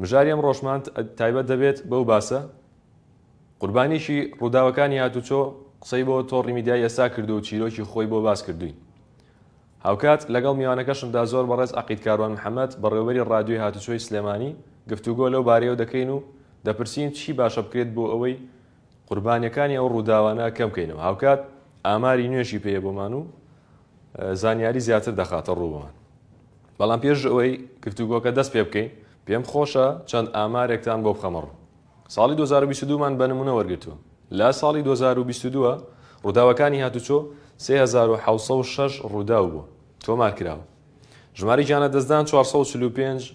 مژاری ئەمڕۆشمان تایبەت دەبێت بەو باسە قوربانیشی ڕووداوەکانی هاتوچۆ قسەی بۆ تۆڕی میدیای ئێستا کردو و چیرۆکی خۆی بۆ باس کردوین هاوکات لەگەڵ میوانەکەشمدا زۆر بەڕێز عقید کاروان محەممەد بەڕێوەری ڕادیۆی هاتوچۆی سلێمانی گفتوگۆ لەو بارەیەوە دەکەین و دەپرسین چی باشە بکرێت بۆ ئەوەی قوربانیەکانی ئەو ڕووداوانە کەم کەینەوە هاوکات ئاماری نوێشی پێ بۆمان و زانیاری زیاتر دەخاتە ڕوومان بەڵام پێش ئەوەی گفتوگۆکە دەست پێ بکەین پێم خۆشە چەند ئامارێکتان بۆ بخەمەڕ ساڵی 2022 مان بە نمونە وەرگتووە لە ساڵی 2022 ڕووداوەکانی هاتوچۆ 3706 ڕووداو بووە تۆمار کراوە ژماری گیانە دەستدان 445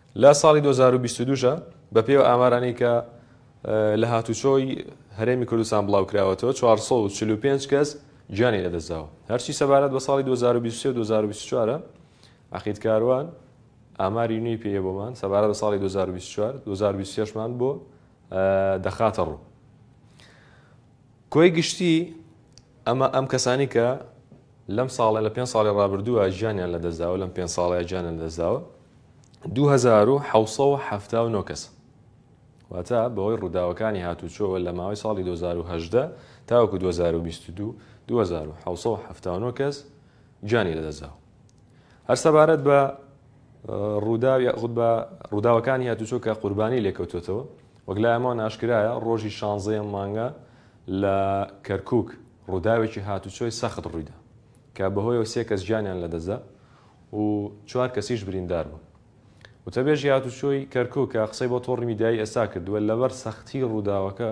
لە ساڵی دوو هەزار و بیست و دوو ژە بە پێوە ئامارانەی کە لە هاتوچۆی هەرێمی کوردستان بڵاو کراوەتەوە چوار سەد و چل و پێنج کەس گیانی لە دەستداوە هەرچی سەبارەت بە ساڵی دوو هەزار و بیست و سێ و دوو هەزار و بیست و چوار عەقید کاروان ئاماری نوێی پێیە بۆمان سەبارەت بە ساڵی دوو هەزار و بیست و چوار دوو هەزار و بیست و شەش مان بۆ دەخاتە ڕوو کۆی گشتی ئەمە ئەم کەسانی کە لەم ساڵێ لە پێنج ساڵی ڕابردووە ژیانیان لە دەستداوە لەم پێنج ساڵەیە ژیانیان دەستداوە 2779 کەس واتە بەوەی ڕووداوەکانی هاتوچۆوە لە ماوەی ساڵی 2010 تاوەکو 2022 2779 کەس گیانی لەدەستداوە هەر سەبارەت بە ڕووداو یاخود بە ڕووداوەکانی هاتوچۆ کە قوربانی لێکەوتێتەوە وەک لایەمەوە ناشکرایە ڕۆژی شانزەیە مانگە لە کەرکک ڕووداوێکی هاتوچۆی سەخت ڕوویدا کە بەهۆیەوە سێ کەس گیانیان لەدەستدا و چوار کەسیش بریندار بوون وتەبێژی هاتوچۆی کەرکک کە قسەی بۆ تۆڕی میدیایی ئێستا کردووە لەبەر سەختی ڕووداوەکە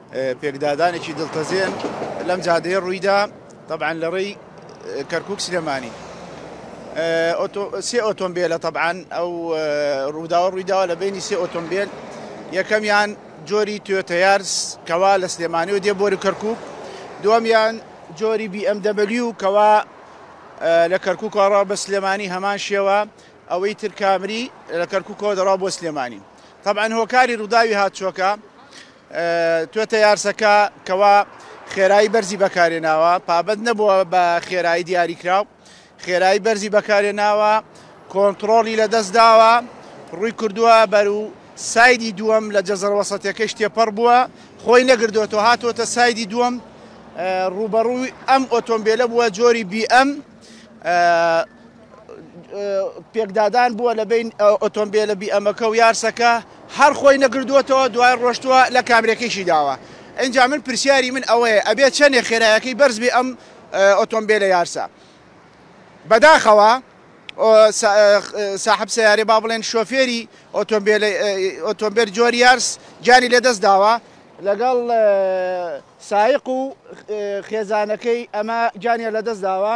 پێکدادانێکی دڵتەزێن لەم جادەیە ڕوویدا تەبعەن لە ڕێی کەرکک سلێمانی سێ ئۆتۆمبیلە تەبعاان ئەو ڕووداوە ڕوویداوە لە بینی سێ ئۆتۆمبیل یەکەمیان جۆری توێتەیارس کەوا لە سلێمانی و دێ بۆری کەرکک دومیان جۆری BMW و کەوا لە کەرککوکڕا بە سلێمانی هەمان شێوە ئەوەی تر کامری لە کەرککەوە دەڕا بۆ سلێمانی طبعا هۆکاری ڕووداوی هاتچۆکە توێتە یارسەکە کەوا خێرایی بەرزی بەکارێناوە پابەت نەبووە بە خێرایی دیاریکراو خێرایی بەرزی بەکارێناوە کۆنتترۆڵی لە دەست داوە ڕووی کردووە بەر و سایدی دووەم لە جەزەرەوەسەتەکەی شتێپەڕ بووە خۆی نەگردوێتەوە هاتووەتە سایدی دووەم ڕوبەڕووی ئەم ئۆتۆمبیلە بووە جۆری بی ئەم پێکدادان بووە لە بین ئۆتۆمبیلە بیئەمەکە و یارسەکە هەر خۆی نەگردووەتەوە دوای ڕۆشتووە لە کامرەکەیشی داوە ئەجا من پرسیاری من ئەوەیە ئەبێ چەندێ خێرایەکەی بەرزبی ئەم ئۆتۆمبیلە یارسە بەداخەوە ساحب سیارێ با بڵێن شۆفێری ئۆتۆمبیل جۆری یارس جانی لەدەست داوە لەگەڵ سایق و خێزانەکەی ئەمە جانیان لەدەست داوە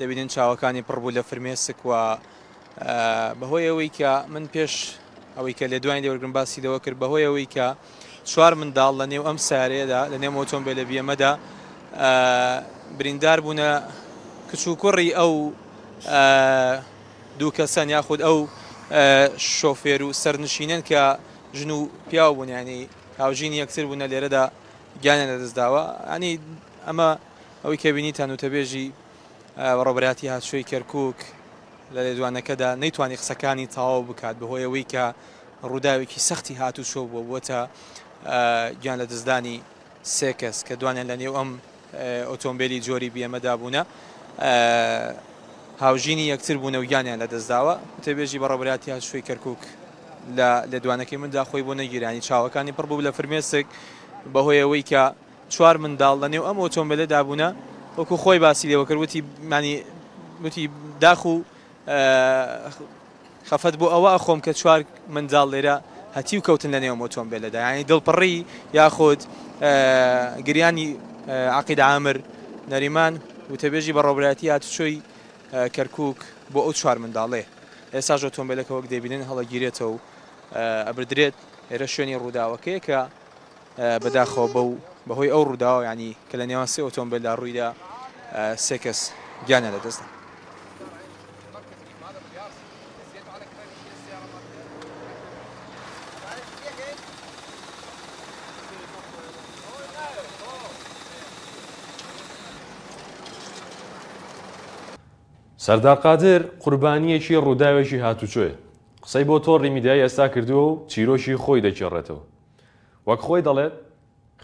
دەبینن چاوەکانی پڕ بوو لە فرمێسک و بەهۆی ئەوەی کە من پێش ئەوەی کە لێ دوای لێوەرگم باسی لەوە کرد بەهۆی ئەوەی کە چوار منداڵ لە نێو ئەم سارەیەدا لە نێو ئۆتۆمبیل لە بیەمەدا بریندار بوونە کچ و کوڕی ئەو دوو کەسەن یاخود ئەو شۆفێر و سەرنشینن کە ژن و پیاو بوونیانی هاوژین یەکتر بوونە لێرەدا گیانە لەدەستداوە ئەنی ئەمە ئەوەی کە بینیتان وتەبێژی بەڕێوەبەرایەتی هاتشۆی کەرکووک لە لێدوانەکەدا نەیتوانی قسەکانی تەواو بکات بەهۆی ئەوەی کە ڕووداوێکی سەختی هاتوچۆ بووە بووەتە گیان لەدەستدانی سێ کەس کە دوانیان لە نێو ئەم ئۆتۆمبیلی جۆری بیەمەدا بوونە هاوژینی یەکتر بوونە و گیانیان لەدەستداوە وتەبێژی بەڕێوەبەرایەتی هاتشۆی کەرکووک لە لێدوانەکەی مندا خۆی بۆ نەگیرانی چاوەکانی پڕ بوو لە فرمێسک بەهۆی ئەوەی کە چوار منداڵ لە نێو ئەم ئۆتۆمبێلە دابوونە وەکو خۆی باسی لێوە کرد وتی یانی وتی داخ و خەفەت بۆ ئەوە ئەخۆم کە چوار منداڵ لێرە هەتیو کەوتن لە نێو ئۆتۆمبێلەدا یانی دڵپڕی یاخود گریانی عقید عامر نەریمان وتەبێژی بەڕۆبرایەتی هاتوچۆی کەرکک بۆ ئەو چوار منداڵێ ئێساش ئۆتۆمبیلەکە وەک دەبینن هەڵەگیرێتەوە و ئەبدرێت ئێرە شوێنی ڕووداوەکەیە کە بەداخەوە بەو بەهۆی ئەو ڕووداوە یانی کە لە نێوان سێ ئۆتۆمبێلدا ڕوویدا سێ کەس گیانیان لەدەستدا. سەردار قادر قوربانییەکی ڕووداوێکی هاتوچۆیە، قسەی بۆ تۆڕی میدیایی ئێستا کردووە و چیرۆکی خۆی دەگێڕێتەوە، وەک خۆی دەڵێت،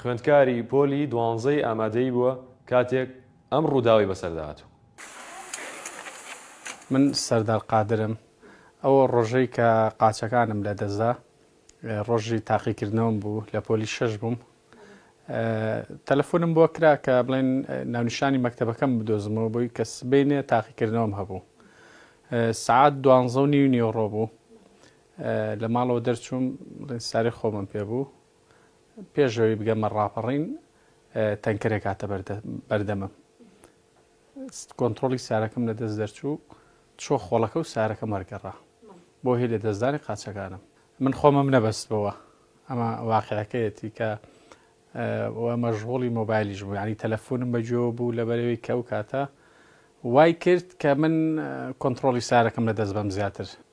خوێندکاری پۆلی دوانزەی ئامادەیی بووە کاتێک ئەم رووداوەی بەسەردا هاتوو. من سەردار قادرم، ئەو رۆژەی کە قاچەکانم لەدەستدا، رۆژی تاقیکردنەوەم بوو، لە پۆلی شەش بووم، تەلەفۆنم بۆ کرا کە بڵێن ناونیشانی مەکتەبەکەم بدۆزمەوە بۆی کە سبەینێ تاقیکردنەوەم هەبوو. سەعات دوانزە و نیو نیوەڕۆ بوو، لە ماڵەوە دەرچووم، ڕیزچارەی خۆمم پێ بوو، پێش ئەوەی بگەمە ڕاپەڕین تەنکەرێک هاتە بەردەمم، کۆنترۆڵی سارەکەم لە دەست دەرچوو، چووە خۆڵەکە و سارەکەم وەرگەڕا، بۆ هی لەدەستدانی قاچەکانم. من خۆمم نەبەستبەوە، ئەمە واقیعەکەیەتی، کە و مەشغوڵی مۆبایلیش بووم، یانی تەلەفونم بە گوێوە بوو، لەبەرئەوەی کە ئەو کاتە وای کرد کە من کۆنترۆڵی سارەکەم لە دەست بەم زیاتر.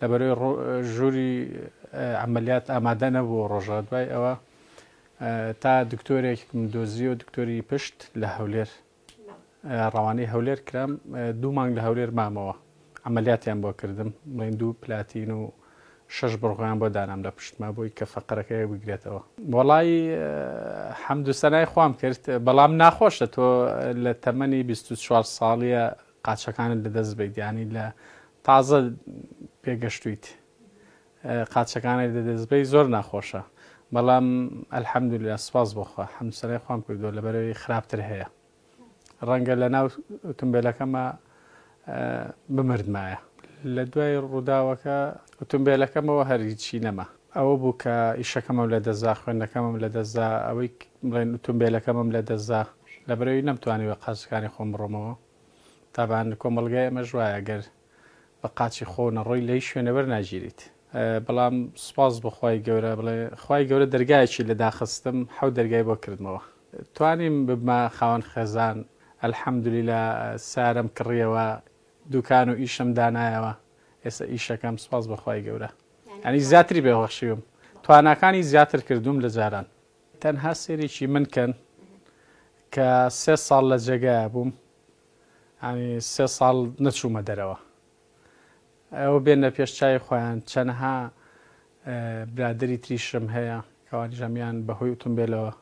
لەبەرەی ژوری عملیات ئامادە نەبوو ڕۆژە دوای ئەوە تا دکتۆرێکم دۆزیەوە دکتۆری پشت لە هەولێر ڕەوانەی هەولێر کرام دوو مانگ لە هەولێر مامەوە عملیاتیان بۆ کردم بڵین دوو پلاتین و شەش بڕغیان بۆ دانام لە پشتما بۆی کە فەقەرەکەی بگرێتەوە وەڵی حەمدو سەنای خۆم کرد بەڵام ناخۆشە تۆ لە تەمەنی 24 ساڵیە قاچەکانت لە دەست بیت یانی لە تازە پێگەشتویت قاچەکانت لە دەست بی زۆر ناخۆشە بەڵام الحمدللە سپاس بۆ خوا حەمسەرای خوام کردووە لەبەرەوەی خراپتر هەیە ڕەنگە لە ناو ئۆتۆمبیلەکەمە بمردمایە لە دوای ڕووداوەکە ئۆتۆمبیلەکەمەوە هەر هیچی نەما ئەوە بوو کە ئیشەکەمم لەدەستدا، خوێندنەکەمم لەدەستدا، ئەوەی بڵێن ئوتومبێلەکەمم لەدەستدا، لەبەر ئەوی نەمتوانی بە قاچەکانی خۆم بڕۆمەوە، تابان کۆمەڵگای ئێمەش وایە گەر بە قاچی خۆو نەڕۆی لەهیچ شوێنێ وەرناگیریت، بەڵام سوپاس بۆ خوای گەورە بڵێ خوای گەورە دەرگایەکی لە داخستم حەوت دەرگای بۆ کردمەوە توانیم ببمە خاوەن خێزان الحمدللە سارەم کڕیەوە دوکان و ئیشم دانایەوە ئێستا ئیشەکەم سوپاس بۆ خوای گەورە. یانی زیاتری بهخشیوم تواناکانی زیاتر کردووم لە جاران. تەنها سێریکی من کەن کە سێ ساڵ لە جێگایە بووم ینی سێ ساڵ نەچوومە دەرەوە ئەوە بێنە پێش چای خۆیان چەنەها برادری تریشم هەیە کەوانی ژەمیان بەهۆی وتم بێلەوە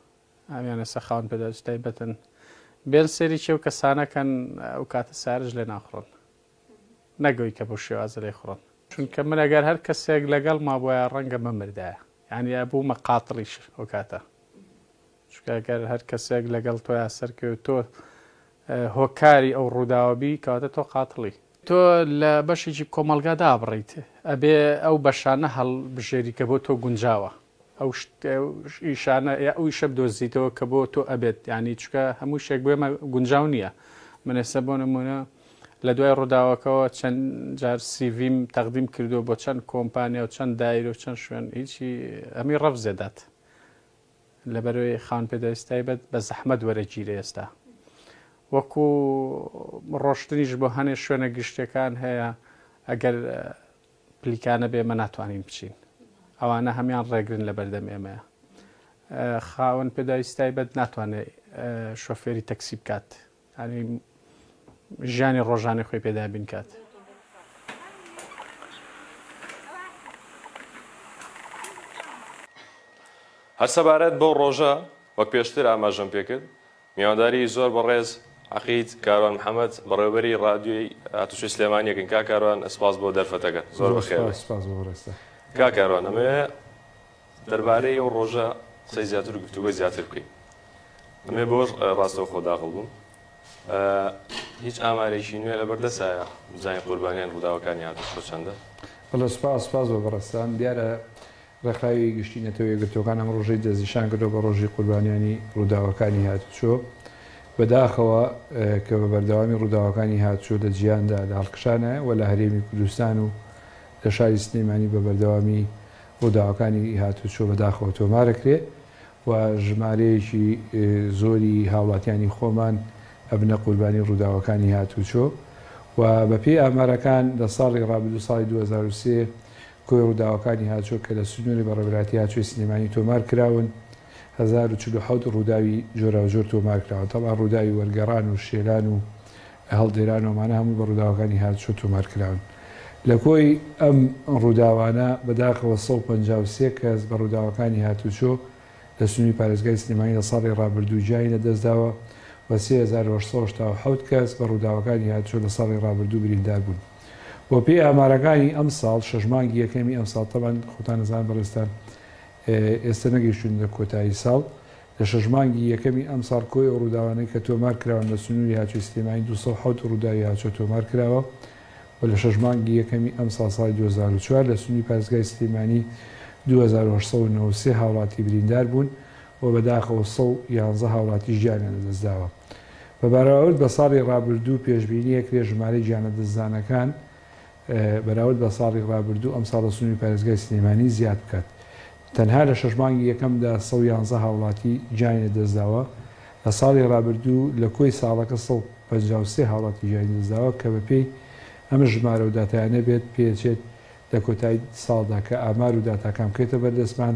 ئەمیانە سەخاون پێداچ تایبەتن بێن سێری چێو کەسانەکەن ئەو کاتە سارژ لێ ناخڕن نەگۆی کە بەو شێوازە لێی خوڕن چونکە من ئەگەر هەر کەسێک لەگەڵ مابوایە ڕەنگە بمردایە یانی ئەبوومە قاتڵیش ئەو کاتە چونکە ئەگەر هەر کەسێک لەگەڵ تۆیا سەرکەوێ و تۆ هۆکاری ئەو ڕووداوە بی کەواتە تۆ قاتڵی تۆ لە بەشێکی کۆمەڵگا دابڕیت ئەبێ ئەو بەشانە هەڵبژێری کە بۆ تۆ گونجاوە. ئەو ئیشانە یا ئەو ئیشە بدۆزیتەوە کە بۆ تۆ ئەبێت یعنی چکە هەموو شێک بێمە گونجاو نییە من ئێستا بۆ نمونە لە دوای ڕووداوەکەەوە چەند جار سیڤیم تەقدیم کردو بۆ چەند کۆمپانیا و چەند دایر و چەند شوێن هیچی ئەمی ڕەف زێدات لەبەرەوەی خان پێداویستای بەت بە زەحمەت وەرەگیرە ئێستا وەکو ڕۆشتنیش بۆ هەنێ شوێنە گشتەکان هەیە ئەگەر پلیکانە بێ ئێمە ناتوانین بچین ئەوانە هەمان ڕێگرن لە بەردەم ئێمەیە خاوەن پێداویست تایبەت ناتوانێت شۆفێری تەکسی بکات ینی ژیانی ڕۆژانە خۆی پێدا بینکات هەر سەبارەت بەو ڕۆژە وەک پێشتر ئاماژەم پێکرد میوانداری زۆر بەڕێز عەقید کاروان محمد بەڕێوەبەری ڕادیۆی هاتوچۆی سلێمانی یەکەین کاک کاروان سپاس بۆ دەرفەتەکەت زۆر بەخێر بێت کاک کاروان ئەمەوێ دەربارەی ئەو ڕۆژە قسەی زیاتر و گفتوگۆی زیاتر بکەین ئەمێ بۆش ڕاستەوخۆ داخڵ بووم هیچ ئامارێکی نوێ لەبەر دەسایە بزانین قوربانیان ڕووداوەکانی هاتوچۆ چەندە بەڵێ سپاس سپاس بۆ بەڕێزتان دیارە ڕێکخراوی گشتی نەتەوە یەکگرتووەکان ئەم ڕۆژەی دەستنیشان کردووە بە ڕۆژی قوربانیانی ڕووداوەکانی هاتوچۆ، بەداخەوە کە بە بەردەوامی ڕووداوەکانی هاتوچۆ لە جیهاندا لە هەڵکشانایە و لە هەرێمی کوردستان و لە شاری سلێمانی بە بەردەوامی ڕووداوەکانی هاتوچۆ بەداخەوە تۆمارەکرێ و ژمارەیەکی زۆری هاوڵاتیانی خۆمان ئەبنە قوربانی ڕووداوەکانی هاتوچۆ و بەپێی ئامارەکان لە ساڵی ڕابردوو ساڵی دوو هەزار و سێ کۆی ڕووداوەکانی هاچۆ کە لە سنووری بەڕێوەبەرایەتی هاچۆی سلێمانی تۆمار کراون، هەزار و چل و حەوت ڕووداوی جۆراوجۆر تۆمار کراون، تەبعەن ڕووداوی وەرگەڕان و شێلان و هەڵدێران و ئەمانە هەمووی بە ڕووداوەکانی هاچۆ تۆمار کراون. لە کۆی ئەم ڕووداوانە بەداخەوە سەد و پەنجا و سێ کەس بە ڕووداوەکانی هاتوچۆ لە سنووری پارێزگای سلێمانی لە ساڵی ڕابردوو گیانی لە دەست داوە و سێ هەزار و هەشت سەد و هەشتا و حەوت کەس بە ڕووداوەکانی هاتچۆ لە ساڵی ڕابردوو بریندار بوون. و پێی ئامارەکانی ئەمساڵ شەش مانگی یەکەمی ئەمساڵ تەبەن خۆتان ئەزانن بەڕێزتان ئێستا نەگەیشتوونە کۆتایی ساڵ لە شەش مانگی یەکەمی ئەمساڵ کۆی ئەو ڕووداوانەی کە تۆمار کراون لە سنووری هاچۆی سلێمانی 207 ڕووداوی هاچۆ تۆمار کراوە و لە شەش مانگی یەکەمی ئەمساڵ ساڵی 2004 لە سنووری پارێزگای سلێمانی 2893 هاوڵاتی بریندار بوون و بەداخەوە 111 هاوڵاتی ژیانیان لەدەستداوە. بە بەراورد بە ساڵی ڕابردوو پێشبینیەکرێ ژمارەی گیانە دەستدانەکان بەراورد بە ساڵی ڕابردوو ئەمساڵ لە سنووری پارێزگای سلێمانی زیاد بکات تەنها لە شەش مانگی یەکەمدا سەد و یانزە هاوڵاتی گیانی لەدەستداوە لە ساڵی ڕابردوو لە کۆی ساڵەکە سەد و پەنجا و سێ هاوڵاتی گیانی لەدەستداوە کە بەپێی ئەم ژمارە و داتایانە بێت پێدەچێت لە کۆتایی ساڵدا کە ئامار و داتاکان بکرێتە بەردەستمان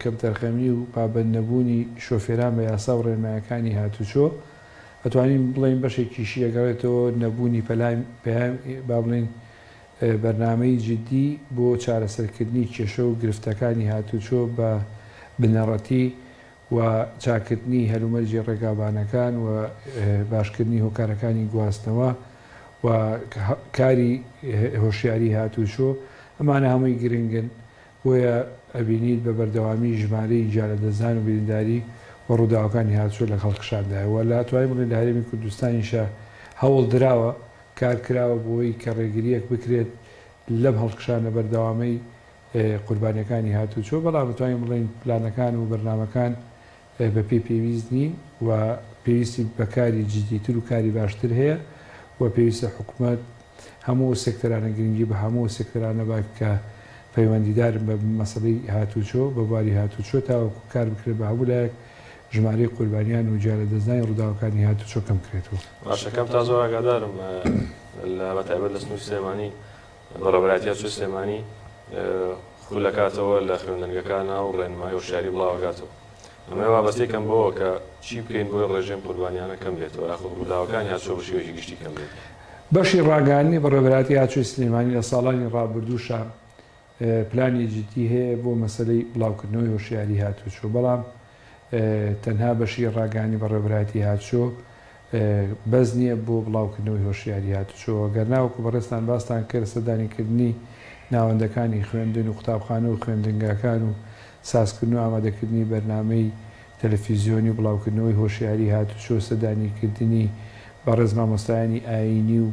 کەمتەرخەمی و پابەندنەبوونی شۆفێران بە یاسا و ڕێنمایەکانی هاتووچۆ، ئەتوانین بڵێین بەشێکیشی دەگەڕێتەوە نەبوونی با بڵێین بەرنامەی جیددی بۆ چارەسەرکردنی کێشە و گرفتەکانی هاتووچۆ بە بنەڕەتی و چاککردنی هەلومەرجی ڕێگابانەکان و باشکردنی هۆکارەکانی گواستنەوە و کاری هۆشیاری هاتووچۆ، ئەمانە هەمووی گرنگن بۆیە ئەبینیت بە بەردەوامی ژمارەی گیانلەدەستدان و برینداری و ڕووداوەکانی هاتوچۆ لەگ هەڵکشاندایە و لە توانای بگرین لە هەرێمی کوردستانیشە هەوڵ دراوە کار کراوە بۆی کە ڕێگریەک بکرێت لەم هەڵکشانە بەردەوامەی قوربانیەکانی هاتوچۆ بەڵام ئەتوانین بڵێین پلانەکان و بەرنامەکان بە پێی پێویست نین و پێویستی بە کاری جدیتر و کاری باشتر هەیە و پێویستە حکومەت هەموو ئەو سێکتەرانە گرنگی بە هەموو ئەو سێکتەرانە بات کە پەیوەندیدارن بە مەسەلەی هاتووچۆ، بە بواری هاتووچۆ تاوەکو کار بکرێت بە هەموو لایەک ژمارەی قوربانیان و گیانلەدەستدانی ڕووداوەکانی هاتووچۆ کەم کرێتەوە. باشە کاک تازۆر ئاگادارم بە تایبەت لە سنوری سلێمانی بەڕێوەبەرایەتیی ئاسۆی سلێمانی خولەکاتەوە لە خوێندنگەکانا و ڕێنمایی هۆشیاری بڵاوەکاتەوە. ئەمەی وابەستەی کەم بەوە کە چی بکەین بۆی ڕێژەی قوربانیانە کەم بێتەوە یاخود ڕووداوەکانی ئاسۆ بە شێوەیەکی گشتی کەم بێت. بەشی ڕاگەیاندنی بەڕێوەبەرایەتیی ئاسۆی سلێمانی لە ساڵانی ڕابردووشە پلانی جددی هەیە بۆ مەسەلەی بڵاوکردنەوەی هۆشیاری هاتوچۆ، بەڵام تەنها بەشی ڕاگەیاندنی بەڕێوەبەرایەتی هاتشۆ بەس نییە بۆ بڵاوکردنەوەی هۆشیاری هاتشۆ، گەرنا وەکو بەڕێزتان باستان کرد سەردانیکردنی ناوەندەکانی خوێندن و قوتابخانە و خوێندنگاکان و سازکردن و ئامادەکردنی بەرنامەی تەلەفیزیۆنی و بڵاوکردنەوەی هۆشیاری هاتشۆ سەردانیکردنی بەڕێز مامۆستایانی ئایینی و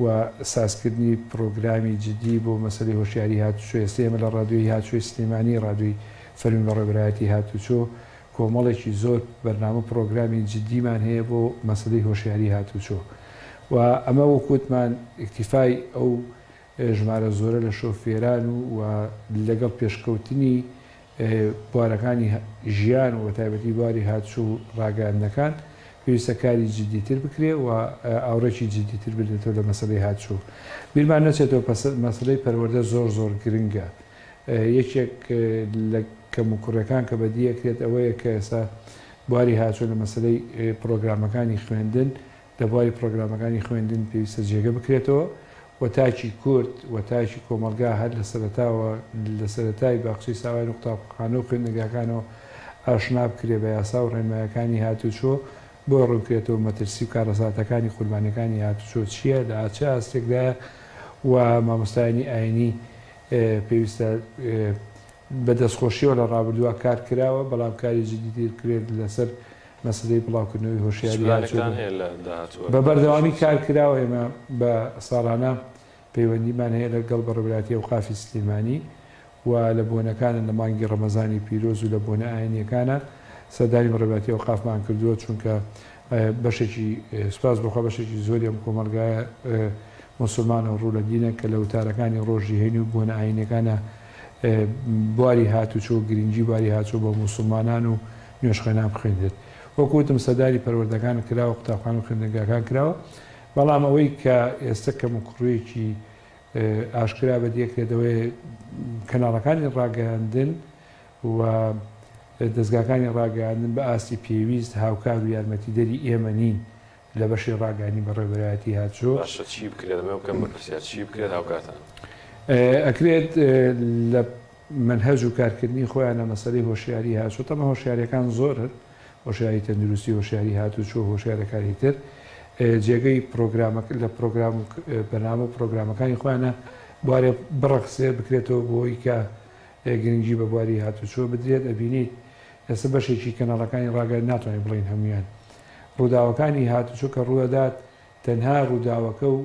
و سازکردنی پڕۆگرامی جدی بۆ مەسەلەی هۆشیاری هاتوچۆ، ئێستا ئێمە لە ڕادیۆی هاتچۆی سلێمانی، ڕادیۆی فەرمی بەڕێوەبەرایەتی هاتوچۆ، کۆمەڵێکی زۆر بەرنامە و پڕۆگرامی جدیمان هەیە بۆ مەسەلەی هۆشیاری هاتوچۆ و ئەمە وەکو وتمان ئیکتیفای ئەو ژمارە زۆرە لە شۆفێران و لەگەڵ پێشکەوتنی بوارەکانی ژیان و بەتایبەتی بواری هاتشو و ڕاگەیاندنەکان پێویستە کاری جدی تر بکرێ و ئاوڕێکی جدی تر بدرێتەوە لە مەسەلەی هاتشو بیرمان نەچێتەوە پەسە مەسەلەی پەروەردە زۆر زۆر گرنگە یەکێک لە کەم و کوڕێکان کە بەدی ئەکرێت ئەوەیە کە ئێستا بواری هاتشو لە مەسەلەی پڕۆگرامەکانی خوێندن لە بواری پڕۆگرامەکانی خوێندن پێویستە جێگە بکرێتەوە و تاکی کورد و تاکی کۆمەڵگا هەر لە سەرەتاوە لە سەرەتای باخچەی ساوایان و قوتابخانە و خوێندنگاکانەوە ئاشنا بکرێ بە یاسا و ڕێنمایەکانی هاتوچۆ بۆی ڕوونکرێتەوە مەترسی و کارەساتەکانی قوربانیەکانی هاتوچۆ چیە لە چ ئاستێکدایە و مامۆستایانی ئاینی پێویستە بە دەستخۆشیەوە لە ڕابردووا کار کراوە، بەڵام کاری جدیتر بکرێت لەسەر مەسەلەی بڵاوکردنەوەی هۆشیاری هاوچەرخ بە بەردەوامی کار کراوە، ئێمە بە ساڵانە پەیوەندیمان هەیە لە گەڵ بەڕێوەبەرایەتی ئەوقافی سلێمانی و لە بۆنەکانە لە مانگی ڕەمەزانی پیرۆز و لە بۆنە ئاینیەکانە سەردانی بەڕێوەبەرایەتی ئەوقافمان کردووە چونکە بەشێکی سوپاس بۆخوا بەشێکی زۆری ئەم کۆمەڵگایە موسوڵمانە و ڕوو لە دینە کە لە وتارەکانی ڕۆژی هەینی و بۆنە ئاینیەکانە بواری هاتوچۆ، گرنگی بواری هاتچۆ بۆ موسوڵمانان و نوێژخوێنان بخوێنرێت. وەک وتم سەردانی پەروەردەکان کراوە، قوتابخانە و خوێندنگاکان کراوە، بەڵام ئەوەی کە ئێستە کەموکوڕیەکی ئاشکرا بەدیەکرێت ئەوەیە کەناڵەکانی ڕاگەیاندن و دەزگاکانی ڕاگەیاندن بە ئاستی پێویست هاوکار و یارمەتیدەری ئێمە نین لە بەشی ڕاگەیاندنی بەڕێوەبەرایەتی هاتشۆ. باشە چی بکرێت دەمەوێ بکەم بە پرسیار چی بکرێت هاوکاتان. ئەکرێت لە مەنهەج و کارکردنی خۆیانە مەسەلەی هۆشیاری هاتشۆ تەمە هۆشیاریەکان زۆرن هۆشیاری تەندروستی هۆشیاری هاتوچۆ هۆشیارەکانی تر جێگەی پرۆگرامە لە پرۆگرام و بەنامە و پرۆگرامەکانی خۆیانە بوارێ بڕەخسێ بکرێتەوە بۆی کە گرنگی بە بواری هاتوچۆ بدرێت ئەبینیت ئێستا بەشێکی کەناڵەکانی ڕاگەیاندن ناتوانین بڵێین هەمویان ڕووداوەکانی هاتوچۆ کە ڕوودەدات تەنها ڕووداوەکە و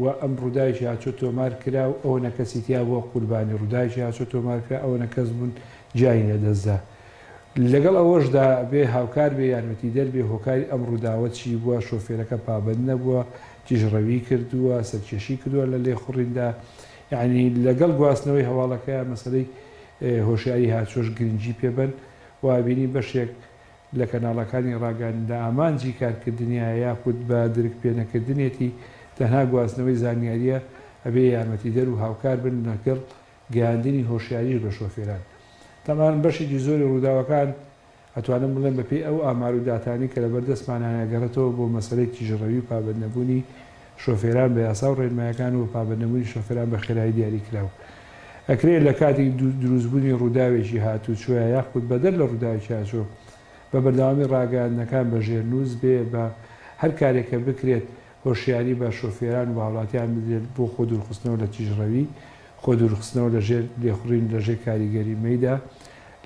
وە ئەم ڕووداوێکی هاتچۆ تۆمار کرا و ئەوەنە کەسی تیا بووە قوربانی ڕووداوێکی هاتچۆ تۆمار کرا ئەوەنە کەس بوون گیانی لە دەست دا لەگەڵ ئەوەشدا بێ هاوکار بێ یارمەتیدەر بێ هۆکاری ئەم ڕووداوە چی بووە شۆفێرەکە پابەند نەبووە تیژڕەوی کردووە سەرکێشی کردووە لە لێخوڕیندا یەعنی لەگەڵ گواستنەوەی هەواڵەکەیان مەسەلەی هۆشیاری هاتچۆش گرنگی پێ بەن و بینی بەشێک لە کەناڵەکانی ڕاگەیاندندا ئامانجی کارکردنیایە یاخود بە درک پێنەکردنێتی تەنها گواستنەوەی زانیارییە ئەبێ یارمەتیدەر و هاوکار بن لەگەڵ گەیاندنی هۆشیاریش بە شۆفێران تەمان بەشێکی زۆری ڕووداوەکان ئەتوانم بڵێم بەپێی ئەو ئامار و داتانەی کە لەبەردەستمانایە گەڕێتەوە بۆ مەسەلەی تیژڕەوی و پابەندنەبوونی شۆفێران بە یاسا و ڕێنمایەکان و بە پابەندنەبوونی شۆفێران بە خێرایی دیاریکراو ئەکرێت لە کاتی دروستبوونی ڕووداوێکی هاتووچۆیە یاخود بەدەر لە ڕووداوێکی هاتووچۆ بە بەردەوامی ڕاگەیاندنەکان بە ژێرنووس بێ بە هەر کارێک کە بکرێت هۆشیاری بە شۆفێران و بە هاوڵاتیان بدرێت بۆ خۆ دوورخستنەوە لە تیژڕەوی خۆ دوورخستنەوە لە ژێر لێخوڕین لە ژێر کاریگەری مەیدا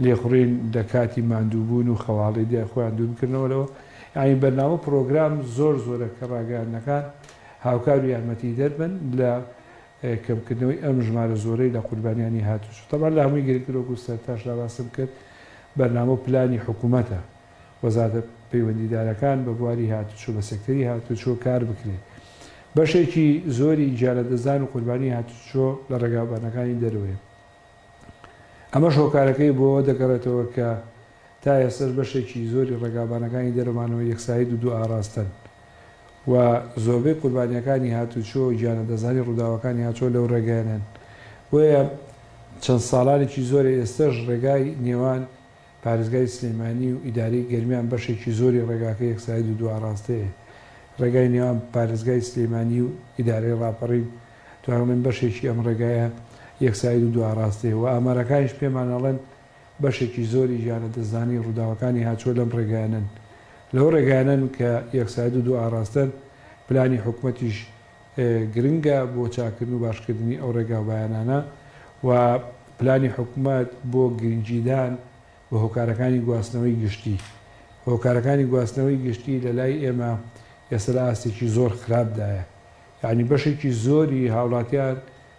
لێخوڕین لە کاتی ماندووبوون و خەواڵی دای خۆیان دوور بکردنەوە لەوە، یانی بەرنامە پڕۆگرام زۆر زۆرە کە ڕاگەیاندنەکان هاوکار و یارمەتیدەر بن لە کەمکردنەوەی ئەم ژمارە زۆرەی لە قوربانیانی هاتووچۆ. تەبعەن لە هەمووی گرنگتر وەکوو سەرتاش دا باسم کرد بەرنامە و پلانی حکوومەتە وەزارەتە پەیوەندیدارەکان بە بواری هاتووچۆ بە سێکتەری هاتووچۆ کار بکرێت. بەشێکی زۆری گیانلەدەستدان و قوربانیی هاتووچۆ لە ڕێگاوبانەکانی دەرەوەیە. ئەمەش هۆکارەکەی بۆ ئەوە دەگەڕێتەوە کە تا ئێستەش بەشێکی زۆری ڕێگابانەکانی دەرەوە مانەوەی یەکسایی دوو دوو ئاڕاستەن و زۆربەی قوربانییەکانی هاتووچۆ و گیانەدەزانی ڕووداوەکانی هاتووچۆ لەو ڕێگەیەنەن بۆیە چەند ساڵانێکی زۆرە ئێستەش ڕێگای نێوان پارێزگای سلێمانی و ئیدارەی گەرمیان بەشێکی زۆری ڕێگاکە یەکساید و دوئاڕاستەیە. ڕێگای نێوان پارێزگای سلێمانی و ئیدارەی ڕاپەڕین توان ئەڵێن بەشێکی ئەم ڕێگایە یەکساید و دوئاڕاستەیە و ئامارەکانیش پێمان ئەڵێن بەشێکی زۆری گیان لەدەستدانی ڕووداوەکانی هاتووە لەم ڕێگایانەن. لەو ڕێگایانەن کە یەکساید و دوئاڕاستەن پلانی حکومەتیش گرنگە بۆ چاککردن و باشکردنی ئەو ڕێگا و بایانانە و پلانی حکومەت بۆ گرنگیدان بە هۆکارەکانی گواستنەوەی گشتی. هۆکارەکانی گواستنەوەی گشتی لە لای ئێمە ئێستا لە ئاستێکی زۆر خراپدایە. یانی بەشێکی زۆری هاوڵاتیان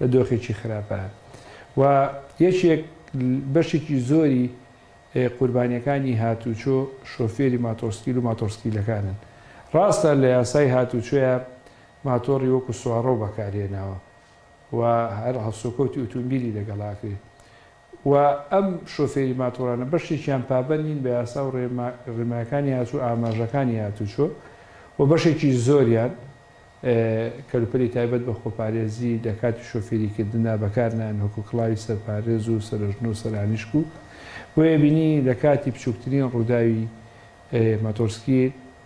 لە دۆخێکی خراپە و یەکێک بەشێکی زۆری قوربانیەکانی هاتوچۆ شۆفێری ماتۆڕسکیل و ماتۆڕسکیلەکانن ڕاستە لە یاسای هاتوچۆیە ماتۆڕی وەکو سوارڕەو بەکارهێناوە و هەر هەڵسوکەوتی ئوتومبیلی لەگەڵاکرێت و ئەم شۆفێری ماتۆڕانە بەشێکیان پابەند نین بە یاسا و ڕێنمایەکانی هاتوو ئاماژەکانی هاتووچۆ و بەشێکی زۆریان کەلوپەلی تایبەت بە خۆپارێزی لە کاتی شۆفێری کردندا بەکار نایەن وەکو کڵاوی سەرپارێز و سەرەژن و سەرانیشک و بۆیە بینینی لە کاتی بچووکترین ڕووداوی ماتۆڕسکیل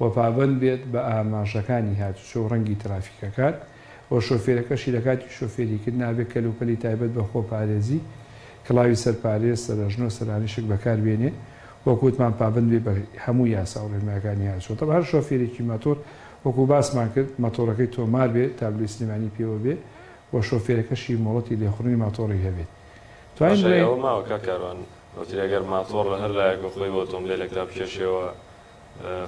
و پابەند بێت بە ئاماژەکانی هاتوچۆ و ڕەنگی ترافیکەکان و شۆفێرەکەشی لە کاتی شۆفێریکردن ئابێ کەلوپەلی تایبەت بە خۆپارێزی، کڵاوی سەرپارێز، سەرەژن و سەرانیشک بەکاربێنێ، وەکو وتمان پابەند بێت بە هەموو یاسا و ڕێنمایەکانی هاتوچۆ. تەبعەن هەر شۆفێرێکی مەتۆر وەکو باسمان کرد مەتۆڕەکەی تۆمار بێت، تابلۆی سلێمانی پێوە بێ و شۆفێرەکەشی مۆڵەتی لێخوڕینی ماتۆڕی هەبێت. توانین بڵێین. باشای ئەوە ماوە کاک کاروان وەتری ئەگەر ماتۆڕ لە هەر لایەک بە خۆی و ئۆتۆمبێلێکدا بکێشێەوە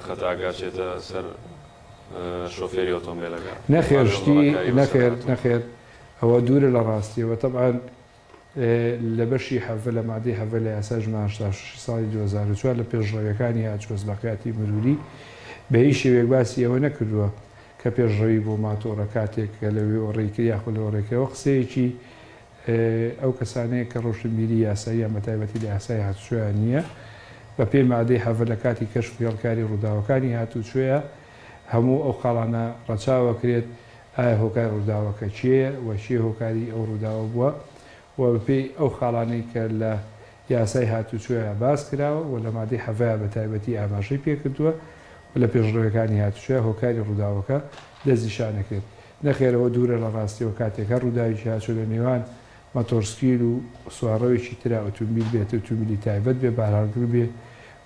خەتاکە چێتە سەر شۆفێری ئۆتۆمبێلەکە. نەخێر شتی نەخێر نەخێر ئەوە دوورە لە ڕاستیەوە تەبعەن لە بەشی حەڤە لە مادەی حەڤە لە یاسای ژمارە هەشتا و شەش ی ساڵی دوو هەزار و چوار لە پێشڕەویەکانی هاتووە ئەزلاقیاتی مروری بە هیچ شێوەیەک باسی ئەوە نەکردووە کە پێشڕەوی بۆ ماتۆڕە کاتێک کە لە وێوەڕێی کرد یاخۆ لەوەڕێ کرد ئەوە قسەیەکی ئەو کەسانەیە کە ڕۆشنبیری یاساییان بە تایبەتی لە یاسای هاتوچۆیان نییە، بە پێی مادەی هەڤە لە کاتی کەشف و هێڵکاری ڕووداوەکانی هاتوچۆیە هەموو ئەو خاڵانە ڕەچاوە کرێت، ئایا هۆکاری ڕووداوەکە کێیە و کێ هۆکاری ئەو ڕووداوە بووە و بە پێی ئەو خاڵانەی کە لە یاسای هاتوچۆیە باس کراوە و لە مادەی هەڤە بە تایبەتی ئاماژەی پێ کردووە و لە پێشڕەویەکانی هاتوچۆیە هۆکاری ڕووداوەکە دەستنیشان ئەکرێت. نەخێر ئەوە دوورە لە ڕاستیەوە کاتێک هەر ڕووداوێکی هاتووە لە نێوان مەتۆڕسکیل و سوارڕەوێکی ترا ئوتومبیل بێت ئوتومبیلی تایبەت بێ بارهەڵگر بێ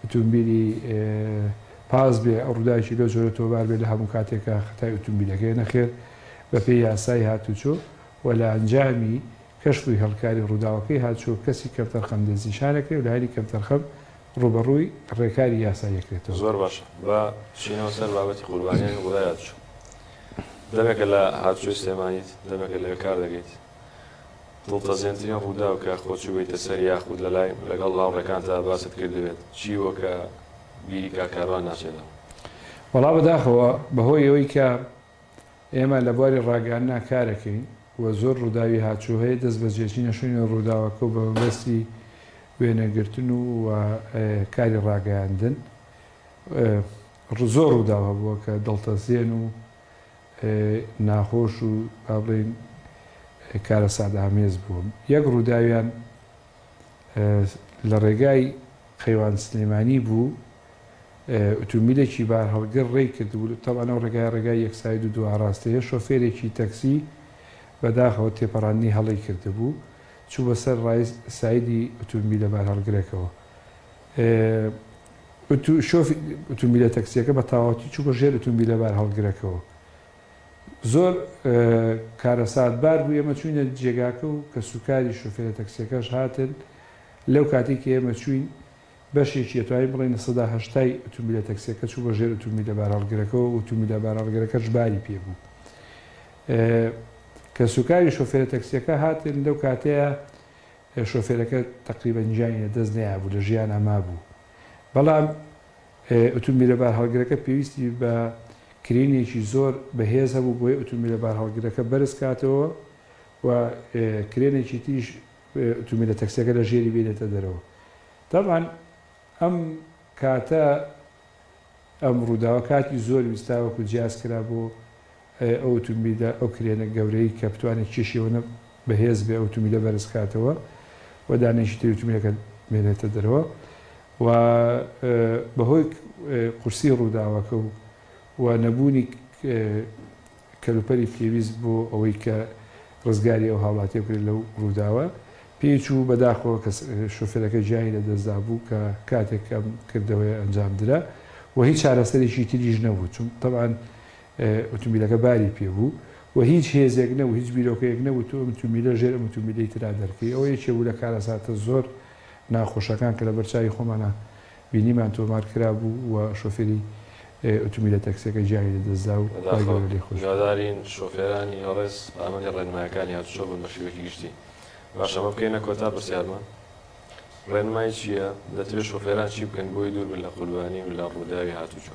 ئوتومبیلی پاس بێ ڕووداوێکی لەو جۆرە تۆمار بێ لە هەموو کاتێکا خەتای ئوتومبیلەکەیە نەخێر بە پێی یاسای هاتوچۆ و لە ئەنجامی کەشف و هێڵکاری ڕووداوەکەی هاتچۆ کەسی کەمتەرخەم دەستنیشان ئەکرێ و لایەنی کەمتەرخەم ڕووبەڕووی ڕێکاری یاسایی ئەکرێتەوە. زۆر باشە با بچینەوە سەر بابەتی قوربانیانی غوذایات چۆن دەمێکە لە هاتوچۆی سلێمانیت دەمێکە لەوێ کار دەکەیت دڵتەزێنترین ڕووداو کە خۆت چووبیتە سەر یاخود لەلای لەگەڵ هاوڕێکانتا باست کردبێت چی بووە کە بیری کاک کاروان ناچێتەوە؟ وەڵا بەداخەوە بەهۆی ئەوەی کە ئێمە لە بواری ڕاگەیاندنا کارەکەین و زۆر ڕووداوی هاتچوو هەیە، دەست بە جێچینە شوێنی ڕووداوەکە و بە مەبەستی وێنەگرتن و کاری ڕاگەیاندن زۆر ڕووداو هەبووە کە دڵتەزێن و ناخۆش و با بڵێین کارەساتئامێز بوون. یەک ڕووداویان لە ڕێگای قەیوان سلێمانی بوو، ئوتومبیلێکی بارهەڵگر ڕێی کردبوو، تەبعەن ئەو ڕێگایە ڕێگای یەک ساید و دوو ئاڕاستەیە، شۆفێرێکی تەکسی بەداخەوە تێپەڕاندنی هەڵەی کردبوو، چوو بەسەر ڕای سایدی ئوتومبیلە بارهەڵگرەکەوە. شۆفی ئوتومبیلە تەکسییەکە بە تەواوەتی چوو بە ژێر ئوتومبیلە بارهەڵگرەکەوە زۆر کارەساتبار بوو، ئێمە چووینە جێگاکە و کەسوکاری شۆفێرە تەکسیەکەش هاتن، لەو کاتەی کە ئێمە چووین بەشێکی ئەتوانین بڵێین لە سەدا هەشتای ئوتومبیلە تەکسیەکە چوو بە ژێر ئوتومبیلە بارهەڵگرەکەوە و ئوتومبیلە بارهەڵگرەکەش باری پێ بوو. کەسوکاری شۆفێرە تەکسیەکە هاتن، لەو کاتەیە شۆفێرەکە تەقریبەن گیانی لەدەست نەیابوو، لە ژیانا مابوو، بەڵام ئوتومبیلە بارهەڵگرەکە پێویستی بە کرێنێکی زۆر بەهێز هەبوو بۆی ئوتومبیلە بارهەڵگرەکە بەرز کاتەوە و کرێنێکی تریش ئوتومبیلە تەکسیەکە لە ژێری بێنێتە دەرەوە تەبعەن ئەم کاتە ئەم ڕووداوە کاتی زۆر ویستا وەکو جیاز کرا بۆ ئایا ئەو ئوتومبیلە ئەو کرێنە گەورەی کە بتوانێت کێشی ئەوەنە بەهێز بێ ئەو ئوتومبیلە بەرز کاتەوە و دانەیەکی تری ئوتومبیلەکە بێنێتە دەرەوە و بەهۆی قورسی ڕووداوەکە و و نەبوونی کەلوپەلی پێویست بۆ ئەوەی کە ڕزگاری ئەو هاوڵاتیە بکرێت لەو ڕووداوە پێی چوو بەداخەوە کە شوفێرەکە گیانی لە دەستدا بوو کە کاتێک ئەم کردەوەیە ئەنجام درا و هیچ چارەسەرێکی تریش نەبوو چون تەبعەن ئوتومبیلەکە باری پێ بوو و هیچ هێزێک نەبوو هیچ بیرۆکەیەک نەبوو تۆ ئەم ئوتومبیلە ژێر ئەم ئوتومبیلەی ترا دەرکەی ئەوە یەکێ بوو لە کارەساتە زۆر ناخۆشەکان کە لەبەر چاوی خۆمانا بینیمان تۆمار کرابوو و شۆفێری ئوتومبیلە تەکسیەکە گیانی لە دەست دا و خوای گەورە لێی خۆش بێت. هیوادارین شۆفێرانی ئێڵێس پابەندی ڕێنمایەکانی هاتوچۆ بن بە شێوەیەکی گشتی. باشە ئەمە بکەینە کۆتا پرسیارمە؟ ڕێنمای چییە؟ دەتەوێت شۆفێران چی بکەن بۆی دوور بن لە قوربانی و لە ڕووداوی هاتوچۆ؟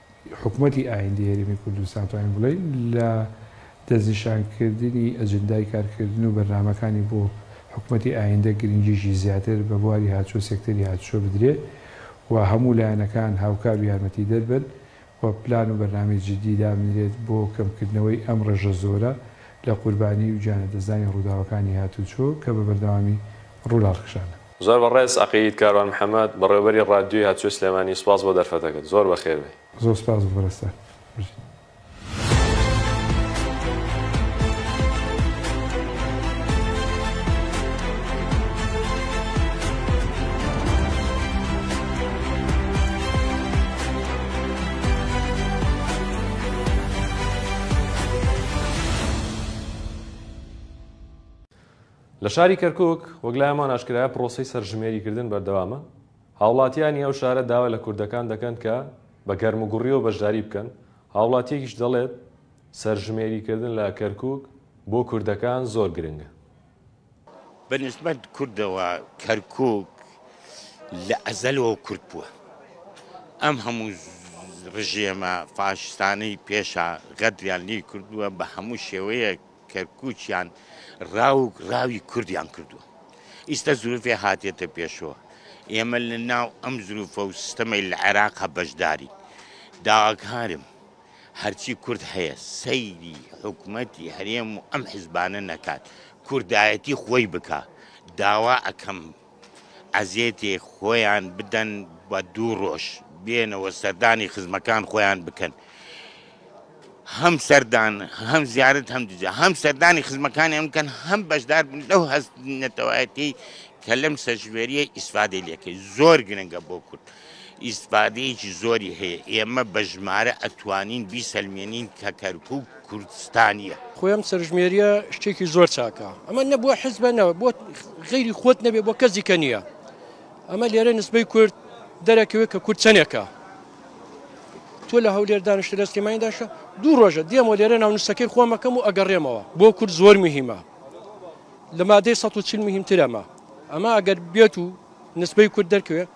حکومەتی ئایندەی هەرێمی کوردستان توانین بڵێین لە دەستنیشانکردنی ئەجندای کارکردن و بەرنامەکانی بۆ حکومەتی ئایندە گرنگیی زیاتر بە بواری هاتشۆ سێکتەری هاتشۆ بدرێت و هەموو لایەنەکان هاوکار و یارمەتیدەر بن و پلان و بەرنامەی جددی دابنرێت بۆ کەمکردنەوەی ئەم ڕێژە زۆرە لە قوربانیی و گیانلەدەستدانی ڕووداوەکانی هاتوچۆ کە بە بەردەوامی ڕوو لە هەڵکشانە. زۆر بەڕێز عەقید کاروان محمد بەڕێوەبەری ڕادیۆی هاتوچۆی سلێمانی سوپاس بۆ دەرفەتەکەت زۆر بەخێر بێی. زۆر سوپاس بۆ پەرستار بژیت. لە شاری کەرکوک، وەک لایەمان ئاشکرایە پرۆسەی سەرژمێریکردن بەردەوامە، هاوڵاتییانی ئەو شارە داوا لە کوردەکان دەکەن کە بە گەرموگوڕییەوە بەشداری بکەن، هاوڵاتییەکیش دەڵێت، سەرژمێریکردن لە کەرکوک بۆ کوردەکان زۆر گرنگە. بە نیسبەت کوردەوە کەرکوک لە ئەزەلەوە کورت بووە، ئەم هەموو ڕژێمە فاشیستانەی پێشە غەدریان لێی کردووە، بە هەموو شێوەیەک کەرکوکیان ڕاوک ڕاوی کوردیان کردوە ئیستا زروفێ هاتێتە پێشەوە ئێمە لە ناو ئەم زروفە و سستەمەی لە عێراقا بەشداری داواکارم هەرچی کورد هەیە سەیری حکومەتی هەرێم و ئەم حزبانە نەکات کوردایەتی خۆی بکا داوا ئەکەم. عەزێتێ خۆیان بدەن بە دوو ڕۆژ بێنەوە سەردانی خزمەکان خۆیان بکەن هەم سەردان هەم زیارت هەم دجا هەم سەردانی خزمەکانیان بکەن هەم بەشدار بن لەو هەست نەتەوایەتی کە لەم سەرژمێریە ئیسفادەی لەکەی زۆر گرنگە بۆ کورد ئیستفادەیەکی زۆری هەیە، ئێمە بە ژمارە ئەتوانین بیسەلمێنین کە کەرکوک کوردستانیە. خۆی ئەم سەرژمێریە شتێکی زۆر چاکە ئەمە نە بۆ حزبە نە بۆ غەیری خۆت نەبێ بۆ کەس دیکە نییە ئەمە لێرە نسبەی کورد دەرەکەوێت کە کورد چەنێکە تۆ لە هەولێر دانیشتە لە سلێمانی داشە دوو ڕۆژە دێمەوە لێرە ناو نووسەکەی خۆمەکەم و ئەگەڕێمەوە بۆ کورد زۆر مهمە لە مادەی 140 مهمترەمە ئەمە ئەگەر بێت و نسبەی کورد دەرکەوێت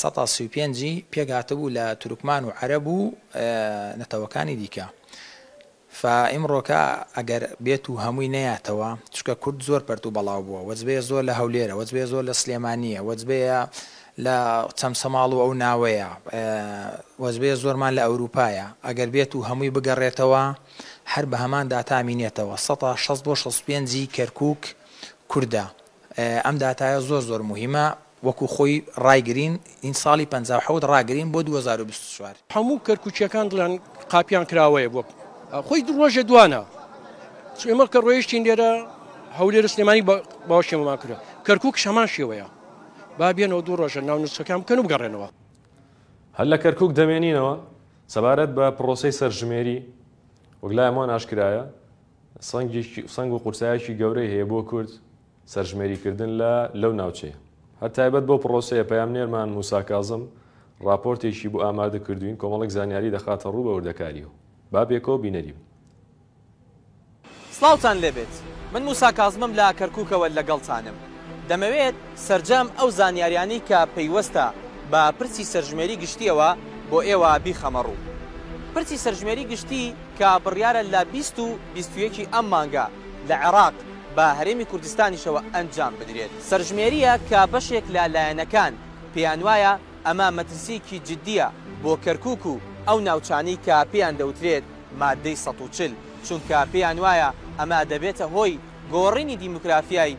سەتا سی و پێنج ی پێک هاتبوو لە تورکمان و عەرەب و نەتەوەکانی دیکە فا ئیمڕۆکە ئەگەر بێت و هەمووی نەیاتەوە چکە کورد زۆر پەرت و بەڵاو بووە وەجبەیە زۆر لە هەولێرە وەجبەیە زۆر لە سلێمانیە وەجبەیە لە چەمچەماڵ و ئەو ناوەیە وەجبەیە زۆرمان لە ئەوروپایە ئەگەر بێت و هەمووی بگەڕێتەوە هەر بە هەمان داتامینێتەوە سەتا شەست بۆ شەست پێنجی کەرکک کوردە ئەم داتایە زۆر زۆر موهیمە وەکو خۆی ڕای گرین ین ساڵی پەنجا و حەوت ڕا گرین بۆ دوو هەزار و بیست و چوار. هەموو کەرکوکیەکان دڵیان قاپیان کراوەیە بۆ خۆی دوو ڕۆژێ دوانە چ ئێمە کە ڕۆیشتین لێرە هەولێرە سلێمانی باوەشێمەمان کرد کەرکوکش هەمان شێوەیە با بێنەوە دوو ڕۆژە ناو نوچەکان بکەن و بگەڕێنەوە. هەر لە کەرکوک دەمێنینەوە. سەبارەت بە پڕۆسەی سەرژمێری، وەک لای هەمووان ئاشکرایە، سەنگ و قورسایەکی گەورەی هەیە بۆ کورد سەرژمێریکردن لە لەو ناوچەیە. هەر تایبەت بەو پڕۆسەیە پەیامنێرمان موسا کازم ڕاپۆرتێکی بۆ ئامادەکردووین کۆمەڵێک زانیاری دەخاتەڕوو بە وردەکارییەوە. با پێکەوە بینەری بن. سڵاوتان لێبێت من موسا کازمم لە کەرکوکەوە لەگەڵتانم دەمەوێت سەرجەم ئەو زانیاریانەی کە پەیوەستە بە پرسی سەرژمێری گشتیەوە بۆ ئێوە بیخەمەڕوو پرسی سەرژمێری گشتی. کە بڕیارە لە بیست و بیست و یەکی ئەم مانگە لە عێراق بە هەرێمی کوردستانیشەوە ئەنجام بدرێت. سەرژمێرییە کە بەشێک لە لایەنەکان پێیانوایە ئەمە مەترسییەکی جددییە بۆ کەرکووک و ئەو ناوچانەی کە پێیان دەوترێت ماددەی سەد و چل، چونکە پێیانوایە ئەمە دەبێتە هۆی گۆڕینی دیموگرافیای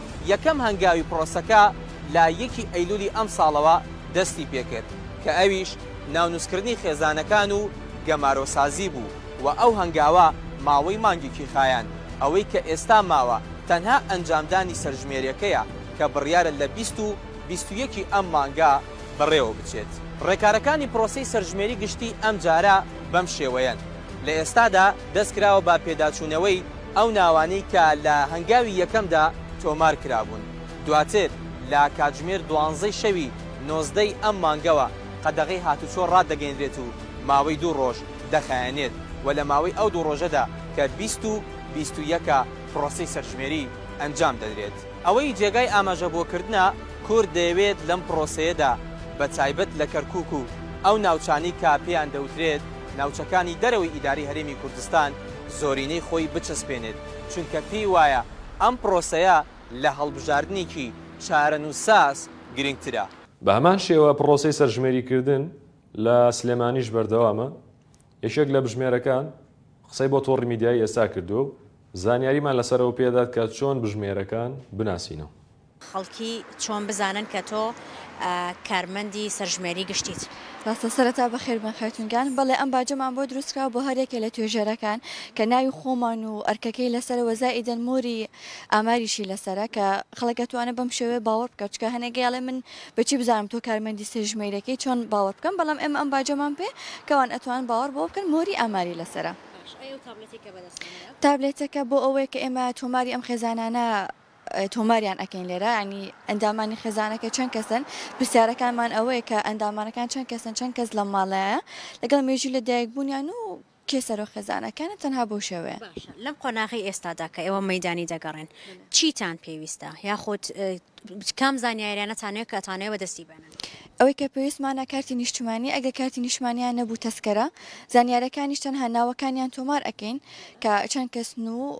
یەکەم هەنگاوی پرۆسەکە لە یەکی ئەیلولی ئەمساڵەوە دەستی پێکرد کە ئەویش ناونوسکردنی خێزانەکان و گەمارۆسازی بوو و ئەو هەنگاوە ماوەی مانگێکی خایاند، ئەوەی کە ئێستا ماوە تەنها ئەنجامدانی سەرژمێریەکەیە کە بڕیارە لە بیست و بیست و یەکی ئەم مانگە بەڕێوەبچێت. ڕێکارەکانی پرۆسەی سەرژمێری گشتی ئەمجارە بەم شێوەیەن، لە ئێستادا دەست کراوە بە پێداچوونەوەی ئەو ناوانەی کە لە هەنگاوی یەکەمدا تۆمار کرابوون، دواتر لە کاتژمێر دوانزەی شەوی نۆزدەی ئەم مانگەوە قەدەغەی هاتوچۆ ڕادەگەینرێت و ماوەی دوو ڕۆژ دەخایەنێت و لە ماوەی ئەو دوو ڕۆژەدا کە بیست و بیست و یەکە پڕۆسەی سەرژمێری ئەنجام دەدرێت. ئەوەی جێگای ئاماژەبۆکردنە کورد دەیەوێت لەم پڕۆسەیەدا بە تایبەت لە کەرکوک و ئەو ناوچانەی کە پێیان دەوترێت، ناوچەکانی دەرەوەی ئیدارەی هەرێمی کوردستان زۆرینەی خۆی بچەسپێنێت، چونکە پێی وایە ئەم پرۆسەیە لە هەڵبژاردنێکی چارەنووسساز گرنگترە. بە هەمان شێوە پرۆسەی سەرژمێریکردن لە سلێمانیش بەردەوامە، یەکێک لە بژمێرەکان قسەی بۆ تۆڕی میدیایی ئێستا کردووە و زانیاریمان لەسەر ئەوە پێدەدات کە چۆن بژمێرەکان بناسینەوە. خەڵکی چۆن بزانن کە تۆ کارمەندی سەرژمێری گشتیت؟ ڕاستە سەرەتا بەخێربێن خاتوون گیان، بەڵێ ئەم باجەمان بۆ دروست کراوە بۆ هەر یەکێ لە توێژەرەکان کە ناوی خۆمان و ئەرکەکەی لەسەرە وە زائیدەن مۆری ئاماریشی لەسەرە کە خەڵک ئەتوانێ بەم شێوەیە باوەڕ بکات چونکە هەنێک ئەڵێ من بەچی بزانم تۆ کارمەندی سەرژمێریەکەی چۆن باوەڕ بکەم بەڵام ئێمە ئەم باجەمان پێ کەوان ئەتوانن باوەڕ بەوە بکەن مۆری ئاماری لەسەرە. تابلێتەکە بۆ ئەوەیە کە ئێمە تۆماری ئەم خێزانانە تۆماریان ئەکەین لێرە ینی ئەندامانی خێزانەکە چەند کەسن پرسیارەکانمان ئەوەیە کە ئەندامانەکان چەند کەسن چەند کەس لە ماڵەیە لەگەڵ مێژوو لە دایک بوونیان و کێ سەرۆ خێزانەکانە تەنها بۆ شێوەیە لەم قۆناغی ئێستادا کە ئێوە مەدانی دەگەڕێن چیتان پێویستە یاخود کام زانیاریانەتانەیە کە ئەتانەیە بە دەستی بێنن ئەوەی کە پێویستمانە کارتی نیشتمانی ئەگە کارتی نیشمانیان نەبوو تەسکەرە زانیارەکانیش تەنها ناوەکانیان تۆمار ئەەکەین کە چەند کەسن و